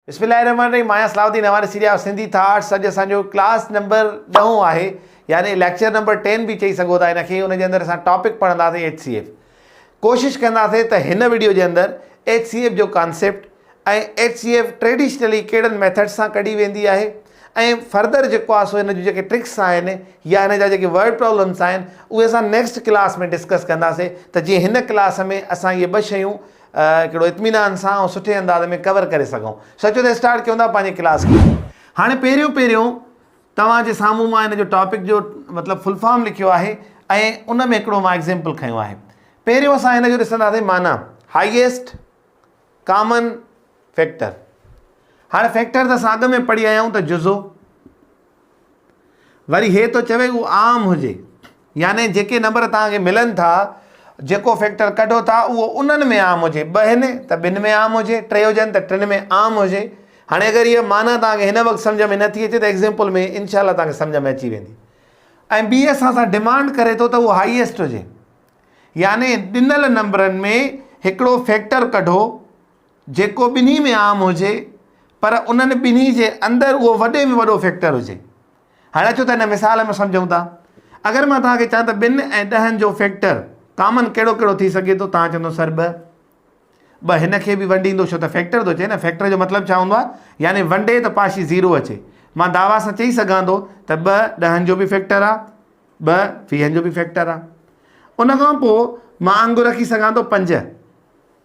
بسم الله الرحمن الرحيم ماهيان صلاح الدين اوهان ڏسي رهيا آهيو سنڌي ٿاٽس اڄ اسان جو ڪلاس نمبر ڏهون آهي يعني ليڪچر نمبر ٽين به چئي سگهو ٿا ان کي ان جي اندر اسان ٽاپڪ پڙهنداسين ايڇ سي ايف ڪوشش ڪنداسين ته هن ويڊيو جي اندر ايڇ سي ايف جو concept ۽ H C F traditionally ڪهڙن ميٿڊ سان ڪڍي ويندي آهي ۽ فردر جيڪو آهي سو هن جون جيڪي ٽرڪس آهن يا هن جا جيڪي ورڊ پرابلمس آهن اهي اسان نيڪسٽ ڪلاس ۾ ڊسڪس ڪنداسين ته جيئن هن ڪلاس ۾ اسان اهي ٻه شيون ڪهڙو اطمينان سان ۽ سٺي انداز ۾ ڪور ڪري سگهون سچو ته اسٽارٽ ڪيون ٿا پنهنجي ڪلاس کي هاڻي پهريون پهريون توهان جي سامهون مان ان جو ٽاپڪ جو مطلب فل فارم لکيو آهي ۽ ان ۾ هڪڙو مان ايگزيمپل کنيو آهي پهريون اسان هن جو ڏسنداسين معنيٰ هائيسٽ ڪامن فيڪٽر هاڻي فيڪٽر ته اسان اڳ ۾ پڙهي آيا آهيون ته جزو وري هي ٿو چوي اهو عام هجي يعني جيڪي نمبر توهان کي ملن ٿا جيڪو فيڪٽر ڪڍو ٿا اهو انهن ۾ عام هجي ٻه هن ته ٻن ۾ عام هجي ٽي هجن ته ٽن ۾ عام هجي هاڻي اگر هي معنيٰ توهان کي هن وقت سمجھ ۾ نٿي اچي ته ايگزامپل ۾ انشاء الله توهان کي سمجھ ۾ اچي ويندي ۽ ٻي اسان سان ڊيمانڊ ڪري ٿو ته اهو هائيسٽ هجي يعني ڏنل نمبرن ۾ هڪڙو فيڪٽر ڪڍو جيڪو ٻنهي ۾ عام هجي پر انهن ٻنهي جي اندر اهو وڏي ۾ وڏو فيڪٽر هجي. هاڻي اچو ته هن مثال ۾ سمجهون ٿا. اگر مان توهان کي چوان ته ٻن ۽ ڏهن جو فيڪٽر ڪامن ڪهڙو ڪهڙو ٿي سگهي ٿو توهان چوندو سر ٻه. ٻه هن کي به ونڊيندو ڇو ته فيڪٽر ٿو چئي نه فيڪٽر جو مطلب ڇا هوندو آهي يعني ونڊي ته پاشي زيرو اچي. مان دعويٰ سان چئي سگهان ٿو ته ٻه ڏهن جو به فيڪٽر آهي ٻه ويهن جو به فيڪٽر آهي. ان کان پوء مان آڱر رکي سگهان ٿو پنج.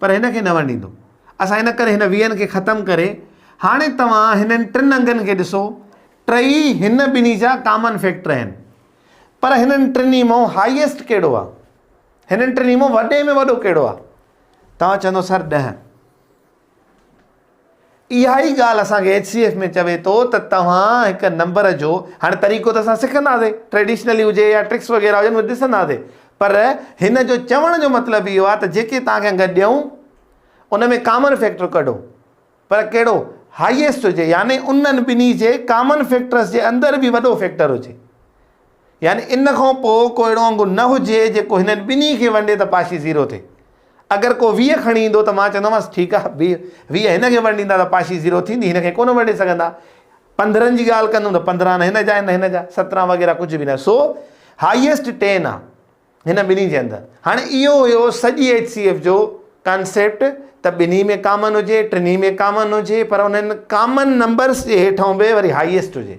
پر هن کي نه ورڻيندو. اسان ان ڪري هن ويهن کي ختم ڪري هاڻي توهان هنن ٽن انگن کي ڏسو، ٽئي هن ٻنهي جا ڪامن فيڪٽر آهن. پر هنن ٽنهي مئو هائيسٽ ڪهڙو آهي؟ هنن ٽنهي مئو وڏي ۾ وڏو ڪهڙو آهي؟ توهان چوندو سر ڏهه. اها ئي ڳالهه اسان کي ايڇ سي ايف ۾ چوي ٿو ته توهان هڪ نمبر جو هاڻي طريقو ته اسان سکنداسين ٽريڊيشنلي هجي يا ٽرڪس وغيره هجن اهي ڏسنداسين پر هن جو چوڻ جو مطلب اهو آهي ته جيڪي توهان کي انگ ڏيون ان ۾ ڪامن فيڪٽر ڪڍو پر ڪهڙو هائيسٽ هجي يعني انهن ٻنهي جي ڪامن فيڪٽرس جي اندر به وڏو فيڪٽر هجي يعني ان کان پوء ڪو اهڙو انگ نه هجي جيڪو هنن ٻنهي کي ونڊي ته پاشي زيرو ٿئي. اگر ڪو ويهه کڻي ايندو ته مان چوندومانس ٺيڪ آهي ويهه ويهه هن کي ونڊيندا ته پاشي زيرو ٿيندي هن کي ڪونه ونڊي سگهندا. پندرهن جي ڳالهه ڪندم ته پندرهن نه هن جا آهن نه هن جا سترهن وغيره ڪجهه به نه سو هائيسٽ ٽين آهي هن ٻنهي جي اندر. هاڻي اهو هيو سڄي ايڇ سي ايف جو ڪانسيپٽ ته ٻنهي ۾ ڪامن هجي ٽنهي ۾ ڪامن هجي پر انهن ڪامن نمبرس جي هيٺئون به وري هائيسٽ هجي.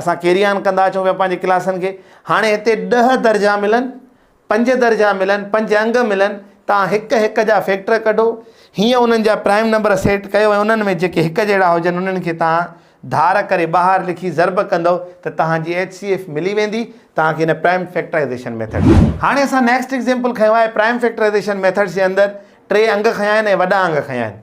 اسان ڪيري آن ڪندا اچون پيا پنهنجي ڪلاسن کي هاڻي هتي ڏهه درجا ملن پنج درجا ملن پنج انگ ملن توهان هڪ هڪ جا فيڪٽر ڪڍو هيئن انهن جا پرائم نمبر سيٽ ڪيو ۽ انهن ۾ جيڪي هڪ جهڙا هجن انهن کي توهان ڌار ڪري ٻاهر لکي ضرب ڪندو ته توهان جي ايچ سي ايف ملي ويندي توهان کي هن پرائم فيڪٽرائيزيشن ميٿڊ ۾ هاڻي اسان نيڪسٽ ايگزيمپل کنيو آهي پرائم فيڪٽرائيزيشن ميٿڊس جي اندر ٽي انگ کنيا آهن ۽ وڏا انگ کنيا آهن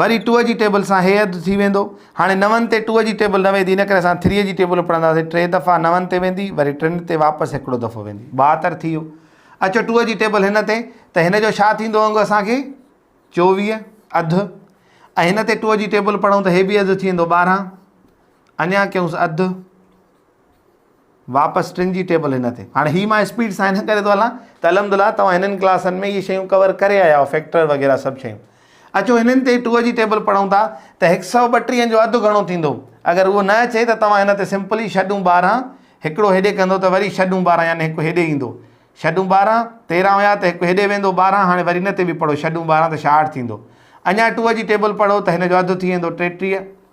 وري ٽوء جي ٽيبل سان هي اڌ ٿي ويندو. هاڻي نون تي ٽوء جي ٽيبل نه ويندي ان ڪري اسان ٿريء جي ٽيبل پڙهنداسين ٽي دفعا نون تي ويندي وري ٽن تي واپس هڪڙو دفعو ويندي ٻاهتر ٿي ويو. اچو ٽوء جي ٽيبل هن تي ته هن جو ڇا ٿيندو انگ اسان کي چوويهه اڌ ۽ هن تي ٽوء جي ٽيبل پڙهون ته هي به اڌ ٿي ويندو ٻارهن اڃا ڪيونس اڌ واپس ٽن جي ٽيبل هن تي هاڻي هي مان اسپيڊ سان هن ڪري ٿو هلان ته الحمدلله توهان هنن ڪلاسن ۾ اهي شيون ڪور ڪري آيا آهيو فيڪٽر وغيره سڀ شيون اچو هنن تي ٽو جي ٽيبل پڙهون ٿا ته هڪ سؤ ٻٽيهن جو اڌ گهڻو ٿيندو اگر اهو نه اچي ته توهان هن تي سمپلي شڏون ٻارهن هڪڙو هيڏي ڪندو ته وري شڏون ٻارهن يعني هڪ هيڏي ايندو شڏون ٻارهن تيرهن هيا ته هڪ هيڏي ويندو ٻارهن هاڻي وري هن تي به پڙهو شڏون ٻارهن ته شاهٺ ٿيندو اڃا ٽو جي ٽيبل پڙهو ته هن جو اڌ ٿي ويندو ٽيٽيهه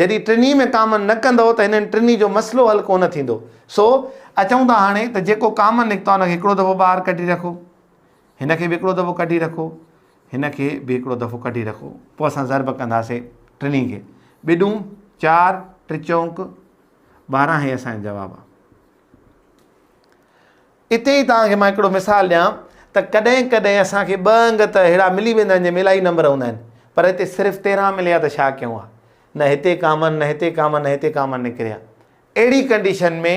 جڏهن ٽنهي ۾ ڪامن نه ڪندؤ ته هنن ٽنهي جو مسئلو حل ڪونه ٿيندو. سو اچون ٿا هاڻي ته جيڪو ڪامن نڪتو آهي ان کي هڪڙو دفعو ٻاهر ڪڍي رکو. هن کي به هڪڙو دفعو ڪڍي رکو. هن کي به هڪڙو دفعو ڪڍي رکو. پوء اسان ضرب ڪنداسين ٽنهي کي. ٻه ڏون چار، ٽي چونڪ ٻارهن هي اسان جو جواب آهي. اتي ئي توهان کي مان هڪڙو مثال ڏيان ته ڪڏهن ڪڏهن اسان کي ٻه انگ ته ههڙا ملي ويندا آهن جنهن ۾ الائي نمبر هوندا آهن پر هتي صرف تيرنهن مليا ته ڇا ڪيون ها نه هتي ڪاما نه هتي ڪاما نه هتي ڪاما نڪريا اهڙي ڪنڊيشن ۾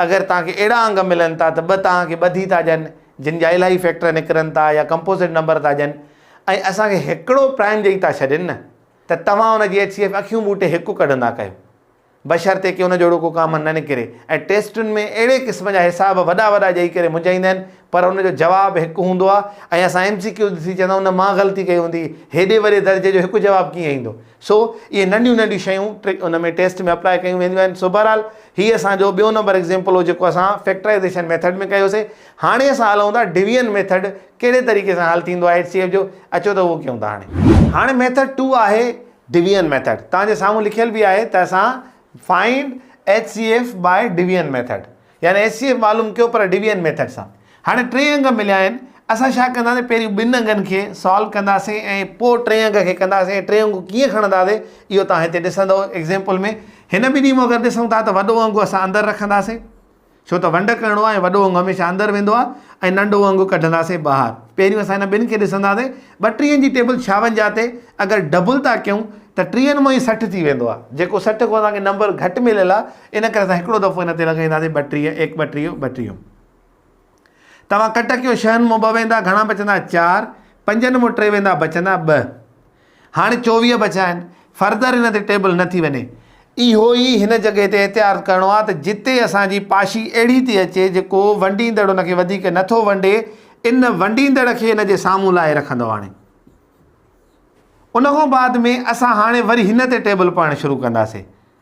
اگر توهان کي اهڙا انگ ملن ٿا ته ٻه توهان کي ٻڌي ٿا ڏين جن جا الائي فيڪٽر نڪرن ٿا يا ڪمپوزٽ نمبر ٿا ڏين ۽ اسان کي هڪڙو پرائم ڏئي ٿا ڇڏين نه ته توهان ان جي ايڇ سي ايف اکيون ٻوٽي هڪ ڪڍندا ڪيو بشرطيڪ ان جهڙو ڪو ڪامن نه نڪري ۽ ٽيسٽن ۾ اهڙي قسم جا حساب وڏا وڏا ڏئي ڪري منجهائيندا آهن پر ان جو جواب هڪ هوندو آهي ۽ اسان ايم سي ڪيوز ڏسي چوندو ان مان غلطي ڪئي هوندي هيڏي وڏي درجي جو هڪ جواب ڪيئن ايندو سو اهي ننڍيون ننڍيون شيون ان ۾ ٽيسٽ ۾ اپلائي ڪيون وينديون آهن سو بهرحال هي اسان جو ٻيو نمبر ايگزامپل هو جيڪو اسان فيڪٽرائزيشن ميٿڊ ۾ ڪيوسي هاڻي اسان هلون ٿا ڊويزن ميٿڊ ڪهڙي طريقي سان حل ٿيندو آهي ايچ سي ايف جو اچو ته اهو ڪيون ٿا هاڻي هاڻي ميٿڊ ٽو آهي ڊويئن ميٿڊ توهان جي سامهون لکيل به آهي ته اسان Find HCF by Division method يعني ايڇ سي ايف معلوم ڪيو پر ڊويئن ميٿڊ سان هاڻي ٽي انگ مليا آهن اسان ڇا ڪنداسين پهرين ٻن انگن کي سالو ڪنداسين ۽ پوء ٽئين انگ کي ڪنداسين ۽ ٽي انگون ڪيئن کڻنداسين اهو توهان هتي ڏسندو ايگزيمپل ۾ هن ٻنهي مان اگر ڏسون ٿا ته وڏو انگ اسان اندر رکنداسين ڇو ته ونڊ ڪرڻو آهي وڏو انگ هميشه اندر ويندو آهي ۽ ننڊو انگ ڪڍنداسين ٻاهر پهريون اسان هن ٻن کي ڏسنداسين ٻٽيهن جي ٽيبل ڇاونجاهه تي اگر ڊبل ٿا ڪيون ته ٽيهن مون هي سٺ ٿي ويندو آهي جيڪو سٺ کان اسان کي نمبر گهٽ مليل آهي ان ڪري اسان هڪڙو دفعو هن تي لڳائينداسين ٻٽيهه ايڪ ٻٽيهه ٻٽيهه توهان ڪٽ ڪيو شهن مون ٻه ويندا گهڻا بچندا چار پنجن مون ٽي ويندا بچندا ٻه هاڻي چوويهه بچيا آهن فرضر هن تي ٽيبل نه ٿي وڃي اهو ئي هن جڳهه تي احتياط ڪرڻو آهي ته جتي اسان جي پاشي اهڙي ٿي اچي جيڪو ونڊيندڙ ان کي وڌيڪ نه ٿو ونڊي ان ونڊيندڙ کي ان جي سامهون لائي رکندو هاڻي ان کان بعد ۾ اسان هاڻي وري هن تي ٽيبل پڙهڻ شروع ڪنداسين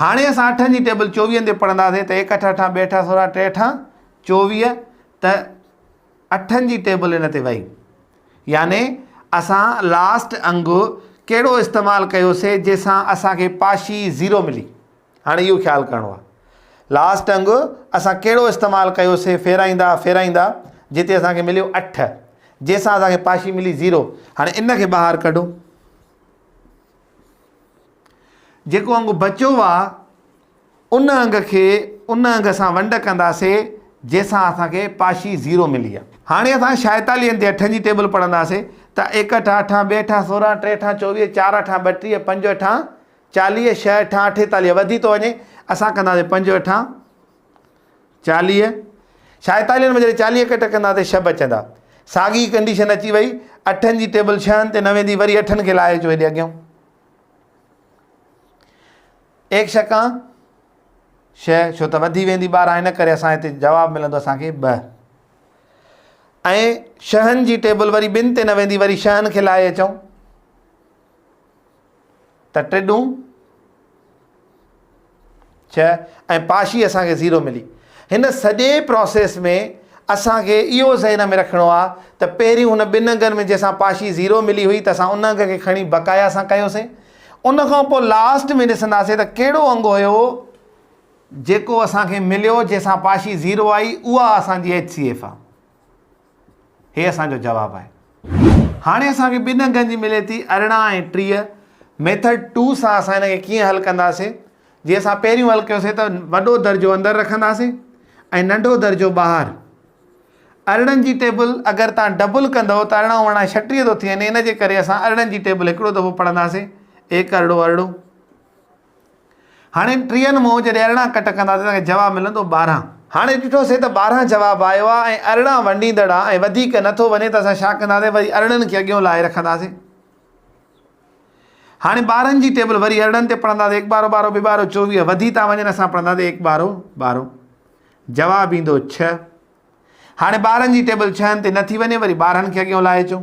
هاڻي اسان اٺن جي ٽيبل چوويهن تي پڙهنداسين ته هيڪ اٺ اٺان ٻي اٺان سورا ٽي اٺان چوويهه ته اٺن جي ٽيبل ان تي وئي يعني اسان لاسٽ انگ ڪهڙو استعمال ڪيوسي جنهن سان اسانکي پاشي زيرو ملي هاڻي اهو خيال ڪرڻو آهي لاسٽ انگ اسان ڪهڙو استعمال ڪيوسي ڦيرائيندا ڦيرائيندا جتي اسان کي مليو اٺ جنهن سان اسان کي پاشي ملي زيرو هاڻي ان کي ٻاهر ڪڍو جيڪو انگ بچيو آ ان انگ کي ان انگ سان ونڊ ڪنداسي جنهن سان اسان کي پاشي زيرو ملي آ. هاڻي اسان شائيتالين تي اٺن جي ٽيبل پڙهنداسي ته ايڪ اٺا اٺان، ٻي اٺان سورهن، ٽي اٺان چوويهه، چار اٺان ٻٽيهه، پنج اٺان چاليهه، شهه اٺان اٺيتاليهه وڌي ٿو وڃي اسان ڪنداسي پنج اٺان چاليهه شائيتالين ۾ جڏهن چاليهه ڪٽ ڪنداسي شهه بچندا ساڳي ڪنڊيشن اچي وئي اٺن جي ٽيبل شهن تي نه ويندي وري اٺن کي لاهي اچو هيڏي اڳيان. ايڪ شڪان شئ ڇو ته وڌي ويندي ٻاراهه ان ڪري اسان هتي جواب ملندو اسانکي ب ۽ شهن جي ٽيبل وري ٻن تي نه ويندي وري شهن کي لائي اچو ته ٽيڏون ڇهه ۽ پاشي اسان کي زيرو ملي. هن سڄي پراسيس ۾ اسان کي اهو ذهن ۾ رکڻو آهي ته پهريون هن ٻن انگن ۾ جنهن سان پاشي زيرو ملي هئي ته اسان ان انگ کي کڻي بقايا سان ڪيوسين ان کان پوء لاسٽ ۾ ڏسنداسين ته ڪهڙو انگ هيو جيڪو اسان کي مليو جنهن سان پاشي زيرو آئي اها اسان جي HCF آهي. هي اسان جو جواب آهي. هاڻي اسان کي ٻن انگن جي ملي ٿي ارڙهن ۽ ٽيهه. ميٿڊ ٽو سان اسان هن کي ڪيئن حل ڪنداسين؟ جي اسان پهريون حل ڪيوسين ته وڏو درجو اندر رکنداسين ۽ ننڍو درجو ٻاهر. ارڙهن جي ٽيبل اگر تان ڊبل ڪندئو ته ارڙهن اوڻائي ڇٽيهه ٿو ٿي وڃي ان جي ڪري اسان ارڙهن جي ٽيبل هڪڙو دفعو پڙهنداسين ايڪ ارڙهو ارڙهو. هاڻي ٽيهن مون جڏهن ارڙهن ڪٽ ڪنداسين ته اسان کي جواب ملندو ٻارهن. هاڻي ڏٺوسين ته ٻارهن جواب آيو آهي ۽ ارڙهن ونڊيندڙ آهي ۽ وڌيڪ نه ٿو وڃي ته اسان ڇا ڪنداسين وري ارڙهن کي اڳيون لاهي رکنداسين. هاڻي ٻارهن جي ٽيبل وري ارڙهن تي پڙهنداسين هڪ ٻارو ٻارو ٻه ٻارو چوويهه وڌي ٿا وڃن اسان پڙهنداسين هڪ ٻارو ٻارو جواب ايندو ڇهه. هاڻي ٻارهن جي ٽيبل ڇهن تي نه ٿي وڃي وري ٻارهن کي اڳيون لاهي اچون.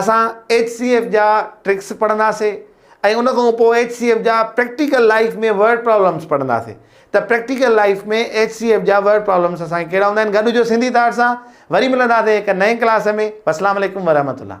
اسان ايڇ سي ايف جا ٽرڪس پڙهنداسين ۽ ان کان پوء ايڇ سي ايف جا پريڪٽيڪل لائيف ۾ ورڊ پرابلمس پڙهنداسين ته practical life ۾ H C F جا ورڊ پرابلمس اسان کي ڪهڙا هوندا آهن گڏ هجو سنڌي ٿاٽ سان وري ملنداسين هڪ نئين ڪلاس ۾ والسلام عليڪم ورحمة الله.